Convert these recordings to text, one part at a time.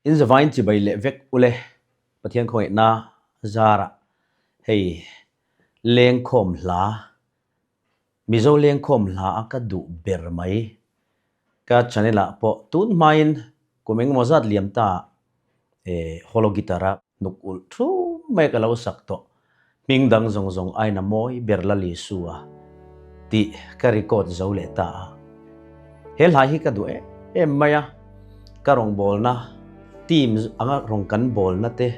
In zavain chibai leh vek ule Pathian khawngaihna zarah hei lengkhawm hla, Mizo lengkhawm hla a ka duh ber mai. Ka channel ah pawh tun hmain kum engemaw zat liam ta e holo guitar a. Nuk ulh thu mai ka lo sak tawh, hming dang zawng zawng aina mawi ber la Lisu a, tih ka record zo leh ta a. He hlai hi ka duh em em mai a, ka rawn bawlna team anga rawn kan bawlna te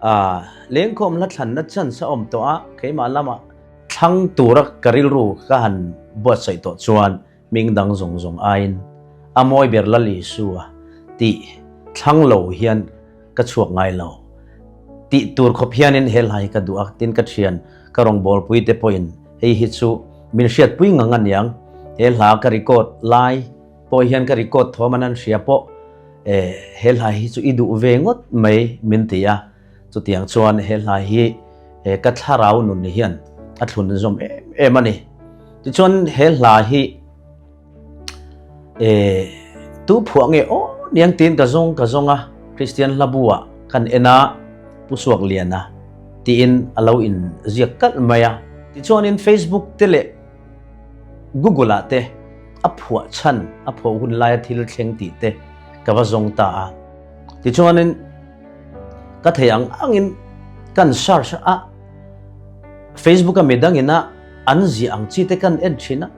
a lengkhawm hla thlanna chance a awm tawh a, keimah lamah thlang tura ka rilru ka han buatsaih tawh chuan Hming dang zawng zawng aiin a mawi ber lal Isua tih thlang lo hian ka chhuak ngai lo. Tih tur khawp hianin he hla hi ka duh a, tin ka thian ka rawngbawlpui te pawhin hei hi chu min hriatpui ngang a niang. He hla ka record lai pawh hian ka record thawm a nan hria pawh eh he hla hi chu i duh ve ngawt mai min ti a. Chutiang chuan he hlai hi he ka thlarau nun ni hian a thlun zawm em em a ni. Tichuan he hlai hi e tu phuah nge aw niang tiin ka zawng ka zawng a, Kristian hlabuah kan en a, Pu Suakliana tiin a lo in ziak kalh mai a. Tichuanin Facebook te leh Google ah te a phuah chhan, a pho hun laia thil thleng tih te ka va zawng ta a. Tichuanin. Ka thei ang angin kan search a, Facebook a midangina an ziah ang chi te kan en thin a,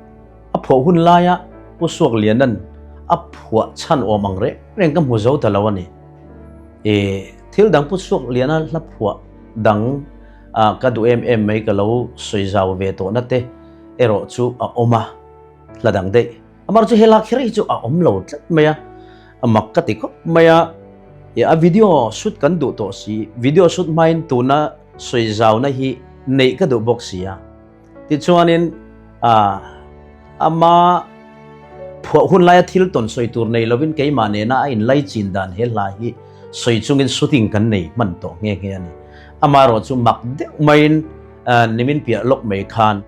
a phuah hun laia Pu Suakliana'n a phuah chhan awm ang reng reng ka hmu zo ta lo a ni. E, thil dang Pu Suakliana hla phuah dang a ka duh em em mai ka lo sawi zau ve tawh na te erawh chu a awm a, hla dang daih. Amar chu he lak her hi chu a awm lo tlat mai a, a mak ka ti khawp mai a, e a video shoot kan duh tawh si, video shoot hmain tuna sawi zauna hi neih ka duh bawk si a, tichuanin a ama phuah hun laia thil tawn sawi tur nei lovin keimah nena a inlai chin dan he hla hi sawi chungin shooting kan nei hman tawh nghe nghe a ni, ama erawh chu mak deuh maiin nimin piah lawk mai khan.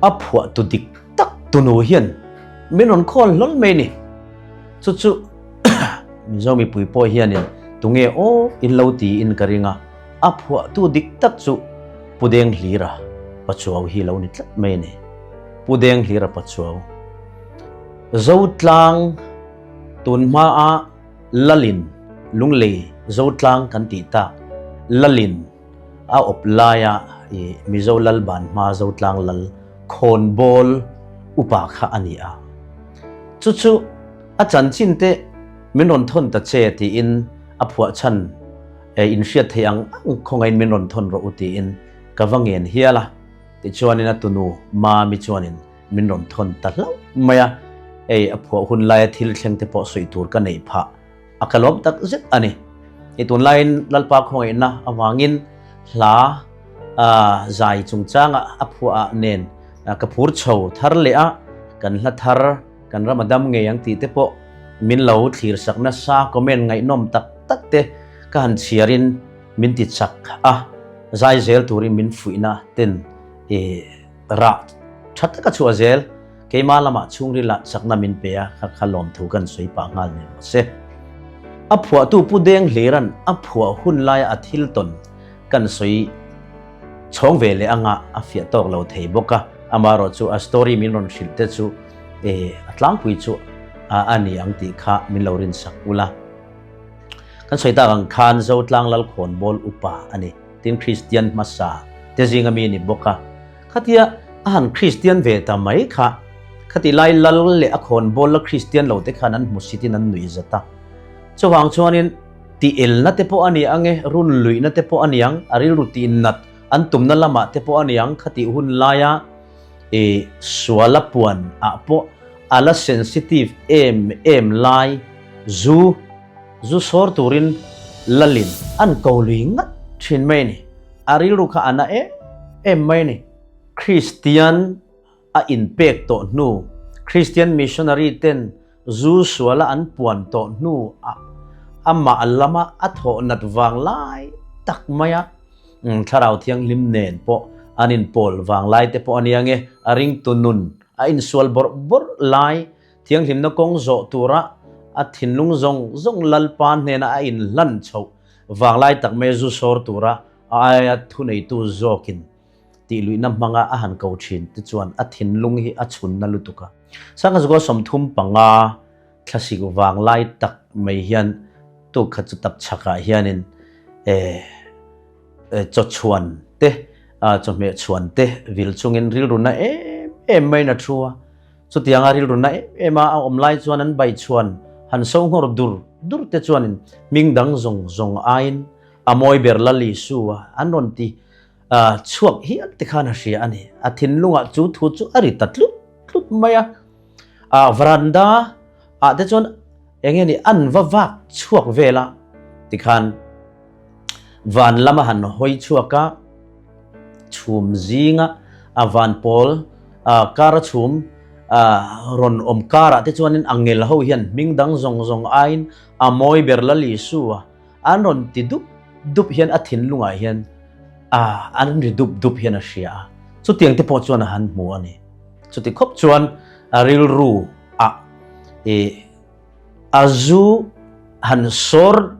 A phuahtu dik tak tunu hian min rawn call hlawl mai ni. Chu chu Mizo mipui pawh hianin tunge aw in lo tiin ka ring a, a phuahtu dik tak chu Pu Denghlira Pachuau hi lo ni tlat mai ni. Pu Denghlira Pachuau, Zotlang tun hmaa Lalin, Lunglei Zotlang kan tih tak Lalin, A awp laia i Mizo Lalban hma Zotlang Lal khawnbawl upa kha a ni a. Chu chu a chanchin teh min rawn thawn ta che tiin a phuahchhan e in hriat theih ang ang khawngaiin min rawn thawn rawh u tiin ka va ngen hial a, tichuanin a tunu Mami chuanin min rawn thawn ta hlauh mai a, hei a phuah hun laia thil thleng te pawh sawi tur ka neih phah. A kalawm tak zet a ni. Hei tunlaiin Lalpa khawngaihna avangin hla zai chungchangah a phuaah nen ka phur chho thar leh a, kan hla thar, kan ram a dam ngei ang tih te pawh min lo thlir sak nasa comment ngaihnawm tak tak te ka han chhiarin min ti chak a, zai zel turin min fuihna ten i. Rah tha taka chhuah zel. Keimah lamah chhungrila chakna min pe a, kha kha lawm thu kan sawi pah nghal nen maw se. A phuahtu Pu Deng Hliran a phuah hun laia a thil tawn kan sawi chhawng ve leh anga a fiah tawk lo thei bawk a. Amaherawh chu a story min rawn hrilh te chu a tlangpui chu a ni ang tih kha min lo rinsak ulh a. Kan sawi tak ang khan Zotlang Lalkhawnbawl upa a ni. Tin Kristian hmasa te zinga mi a ni bawk a, khatia a han Kristian ve ta mai kha khati lai lal leh a khawn bawl la Kristian lo te khan an hmu sitin an nuihzat a. Chuvang chuanin ti elna te pawh a ni ang e, run luihna te pawh a ni ang, a rilru tih nat an tumna lamah te pawh a ni ang, khati hun laia i suala puan ah pawh a la sensitive em em lai zu. Zu sawr turin Lalin an ko lui ngat thin mai ni, a rilru kha a na em em mai ni. Kristian a inpek tawh hnu, Kristian missionary ten zu suala an puan tawh hnu ah amah lama a thawh nat vang lai tak mai a, Thlarau Thianghlim nen pawh an inpawl vang lai te pawh a nia nge, a ringtu nun a insual bawrh bawrh lai Thianghlimna kawng zawh tura a thinlung zawng zawng Lalpa hnena a inhlan chhoh vanglai tak mai zu sawr tura a aia thuneitu zawkin tihluihna hmanga a han ko thin te chuan a thinlung hi a chhunna lutuk a. Sanghazuka sawmthum panga thlasik vanglai tak mai hian tu kha chu tak chhakah hianin eeh chawchhuan te chawhmeh chhuan te vil chungin rilruna em em maiin a thu a. Chutianga rilrunna em ema a awm lai chuan an baichhuan han so nghawr dur dur te chuanin hming dang zawng zawng aiin a mawi ber la Lisu a an rawn ti chhuak hial te khan a hria a ni. A thinlungah chu thu chu a ri ta tlut tlut mai a. Varanda. ah te chuan eng nge ni an va vak chhuak vel a tikhan van lama han hawi chhuak a, chhum zinga a van pawl kara chhum rawn awm karah te chuan in a ngel ho hian hming dang zawng zawng aiin a mawi ber lal Isu a an rawn ti dup dup hian a thinlung ah hian an ri dup dup hian a hria a chutiang te pawh chuan a han hmu a ni. Chuti khawp chuan a rilru a i a zu han sawr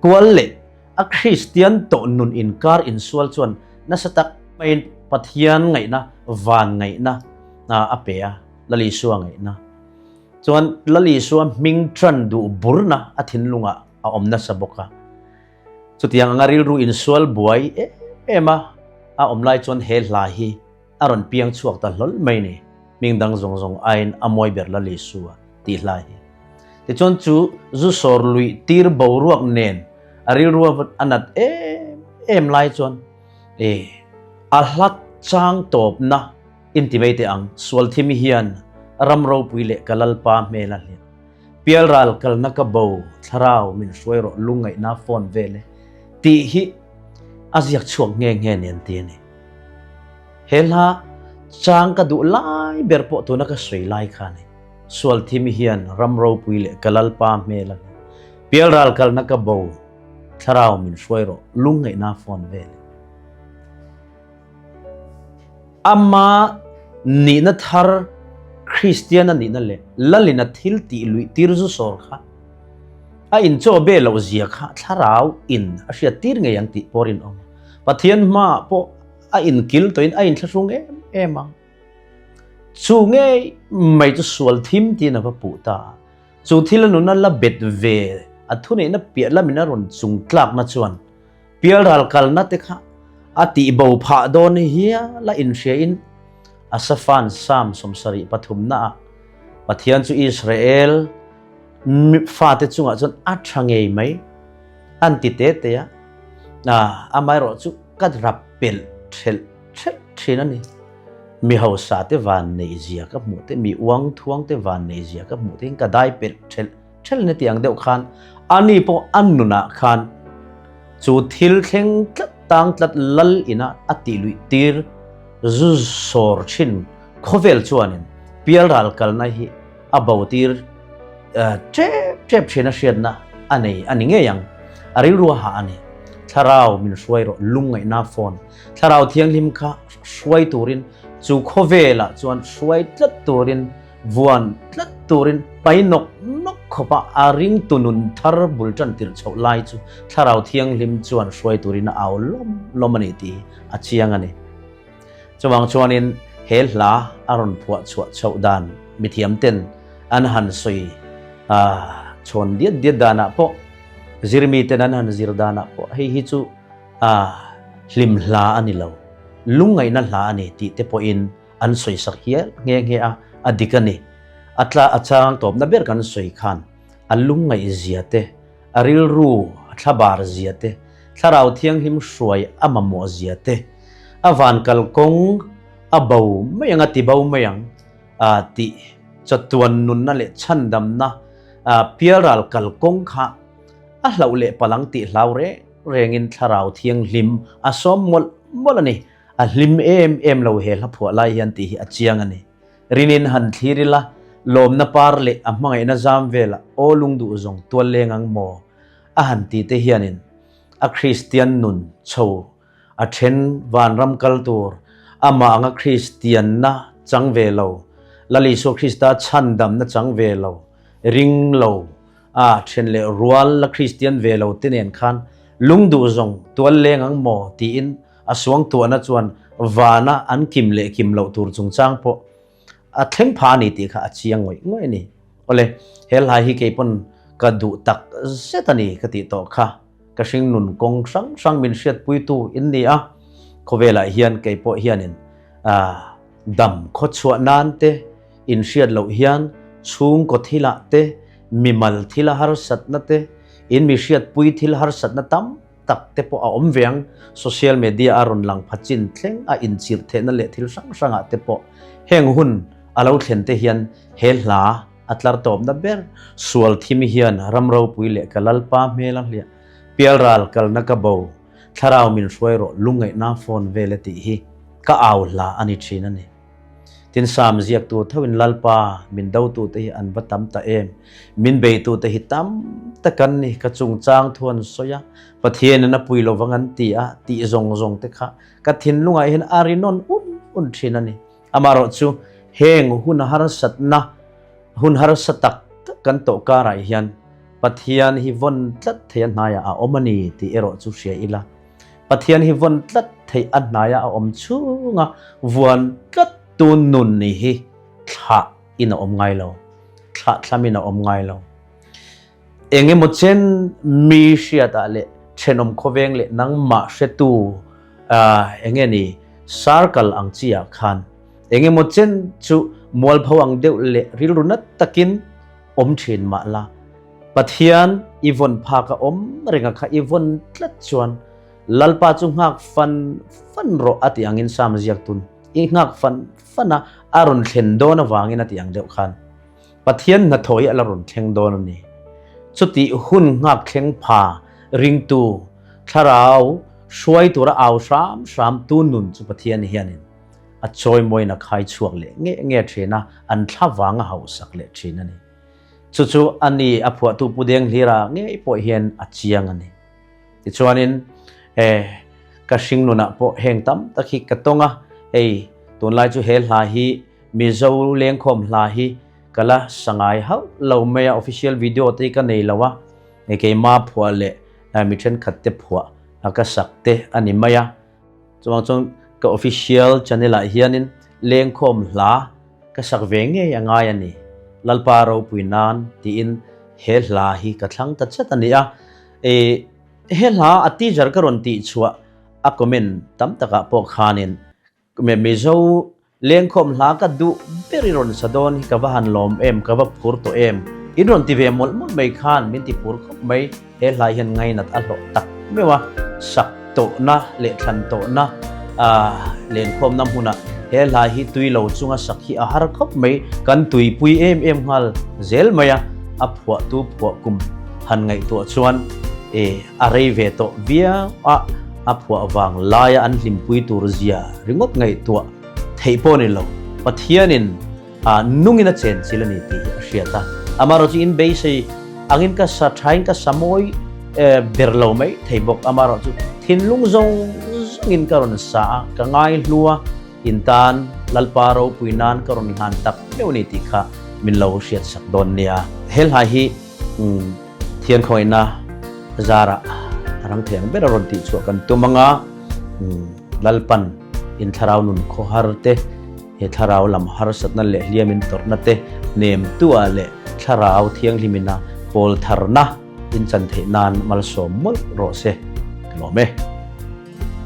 kual leh a Kristian tawh nun inkar insual chuan nasa tak maiin Pathian ngaihna, van ngaihna a pe a, Lalisua ngaihna chuan Lalisua hming tan duh burna a thinlungah a awm nasa bawk a. Chutiang anga rilru insual buai em em a a awm lai chuan he hla hi, A rawn piang chhuak ta hlawl mai ni, hming dang zawng zawng aiin a muai ber la Lisua, tih hla hi. Tichuan chu zu sawr luih tir boruak nen a rilrua a nat em em lai chuan e a hlak chang tawpna inti mai teh ang, Sualthim hian ram ropui leh ka lalpa hmel a hliah. Pialral kalna ka bo, thlarau min hruai rawh lungngaihna fawn vele, tih hi a ziak chhuak nghe nghe nen ti a ni. He hla chang ka duh lai ber pawh tuna ka sawi lai kha ni. Sualthimi hian ram ropui leh ka lalpa hmel a ni. Pialral kalna ka bo, thlarau min hruai rawh, lungngaihna a fawn ve le. Ama nihna thar Kristian a nihna leh Lalina thil tih luih tir zu sawr kha a inchawhbeh loh zia kha thlarau in a hriat tir ngei ang tih pawh a rinawm a. Pathian hma pawh a inkil tawhin a inthlahrung em em ang. Chu ngei mai chu sual thim tiin a va puh ta a. Chu thil a nuna la bet ve a thuneihna piah lamin a rawn chung tlakna chuan Pial ral kalna te kha a tih bo phah dawn i hial a inhriain Asaphan Sam sawmsarih pathumna ah Pathian chu Israel fate chungah chuan a tha ngei mai. An ti te te a, amaherawh chu ka rap pelh ṭhelh ṭhelh ṭhin a ni. Mi hausa te vanneih zia ka hmuh te, mi uangthuang te vanneih zia ka hmuh tehin ka dai pelh ṭhelh ṭhelh ni tiang deuh khan ani pawh an nunah khan chu thil thleng tlat tang tlat lal ina a tih luih tir zu sawr ṭhin khawvel chuanin pialral kalna hi A bo tir ṭep ṭep ṭhin a hriatna a nei a ni ngei ang. A rilruaha a ni. Thlarau min hruai rawh, lungngaihna fawn. Thlarau thianghlim kha hruai turin, chu khawvelah chuan hruai tlat turin, vuan tlat turin, pai nawk nawk khawpa a ring tu nun thar bul ṭan tirh chhoh lai chu thlarau thianghlim chuan hruai turin a au lawm lawm a ni tih hi a chiang a ni. Chuvang chuanin he hla a rawn phuah chhuah chauh dan mithiamten an han sawi chhawn diat diat danah pawh, zir miten an han zir danah pawh hei hi chu hlim hla a ni lo, lungngaihna hla a ni tih te pawhin an sawisak hial nghe nghe a, a dik a ni. A chang tawpna ber kan sawi khan a lungngaihzia te, a rilru, a thla bar zia te, thlarau thianghlim hruai a mamawh zia te, a van kal kawng a bo mai ang, a ti bo mai ang tih chawtuan nunna leh chhandamna pial ral kal kawng kha a hlauh leh palh ang tih hlau reng rengin thlarau thianghlim a sawm mawlh mawlh a ni, a hlim em em lo he hla phuah lai hian tih hi a chiang a ni. Rinin han thlir ila, lawmna par leh a hmangaihna zam vela aw lung duh zawng tual leng ang maw? a han ti te hianin a Kristian nun chho a then vanram kal tur amah anga Kristianna chang ve lo, Lal Isua Krista chhan damna chang ve lo, ring lo a then leh rual la Kristian ve lo te nen khan lung duh zawng tual leng ang maw tiin A suangtuahna chuan vana an kim leh kim loh tur chungchang pawh a thleng pha a ni tih kha a chiang ngawih ngawih a ni. Awle, he hlai hi kei pawn ka duh tak zet a ni ka tih tawh kha ka hring nun kawng hrang hrang min hriat puitu in ni a, khawvelah hian kei pawh hianin dam khawchhuah nan te, inhriat loh hian chhungkaw thilah te, mimal thil harsatna te, in mihriat pui thil harsatna tam tak te pawh a awm ve ang. Social media a rawn lang pha chin thleng a inchirh theihna leh thil hrang hrangah te pawh heng hun a lo thlen te hian he hla a tlar tawpna ber sual thim hian ram ropui leh ka lalpa hmel a hliah pial ral kalna ka bo thlarau min hruai rawh lungngaihna phone vele tih hi ka au hla a ni thin a ni. Tin, Psalm ziaktu thoin Lalpa, min dotute hi an va tam ta em? Min beitute hi tam tak an ni, ka chungchang thu an sawi a, Pathianin a pui lo vang an ti a tih zawng zawng te kha ka thinlungah hian a rinawn un un thin a ni. Amaherawh chu, heng hun harsatna, hun harsa tak tak kan tawh karah hian Pathian hi vawn tlat theih a hnaiah a awm a ni tih erawh chu hria ila. Pathian hi vawn tlat theih a hnaia a awm chunga vuan tlat tu nun ni hi thlah in a awm ngai lo, thlah thlam in a awm ngai lo. Eng emaw chen mi hriatah leh thenawm khawveng leh nangmah hretu eng nge ni sar kal ang chiah khan eng emaw chen chu mualpho ang deuh leh rilru nat takin awm thin mah la, Pathian i vawn phak a awm renga kha i vawn tlat chuan Lalpa chu nghak fan fan rawh a tih angin Psalm ziaktun i nghak fan fan a a rawn thlen dawn avangin a tih ang deuh khan Pathian hnathawhih a la rawn thleng dawn a ni. Chuti hun ngakthleng pha ringtu thlarau hruai tura au hram hram tu nun chu Pathian hianin a chawimawiina khai chhuak leh nge nge thin a, an thla vanga hauhsak leh thin a ni. Chu chu a ni a phuahtu Pu Deng Hlira ngei pawh hian a chiang a ni. Tichuanin, he ka hring nunah pawh heng tam tak hi ka tawng a, hei tunlai chu he hla hi Mizo lengkhawm hla hi ka la sangai hauh lo mai a, official video te ka nei lo a, keima phuah leh mi thenkhatte phuah ka sak te a ni mai a. Chuvang chuan ka official channel ah hianin lengkhawm hla ka sak ve ngei a ngai a ni. Lalpa ropui nan tiin he hla hi ka thlang ta chet a ni a. Eii he hla a teaser ka rawn tih chhuah a comment tam takah pawh khanin Mizo Lengkhawm hla ka duh ber i rawn sa dawn hi ka va han lawm em, ka va phur tawh em, in rawn ti ve mawlh mawlh mai khan min ti phur khawp mai, he hlai hian ngainat a hlawh tak meuh a, sak tawhna leh thlan tawhna lengkhawmna hmunah he hlai hi tui lo chunga sak hi a har khawp mai, kan tui pui em em nghal zel mai a, a phuah tu phuah kum han ngaihtuah chuan a rei ve tawh viau a. a phuah vang laia an hlimpui tur zia ringawt ngaihtuah theih pawh ni lo, Pathianin a nungin a chenchilh a ni tih a hriat a. Amaherawh chu in beisei angin ka sa thain ka sa mawi ber lo mai thei bawk, amaherawh chu thinlung zawng zawngin ka rawn sa a, ka ngai hlu a, in tan Lalpa ropui nan ka rawn hlan tak meuh a ni tih kha min lo hriatsak dawn nia. He hlai hi Thian khawina zarah rang theng bera rawn tih chhuah kan tum anga Lalpan in thlarau nun khawhar te, he thlarau lam harsatna leh hliam in tawrhna te nem tuah leh thlarau thianghlim in a pawl tharna in chan theih nan malsawm mawlh rawh se ka lawm e.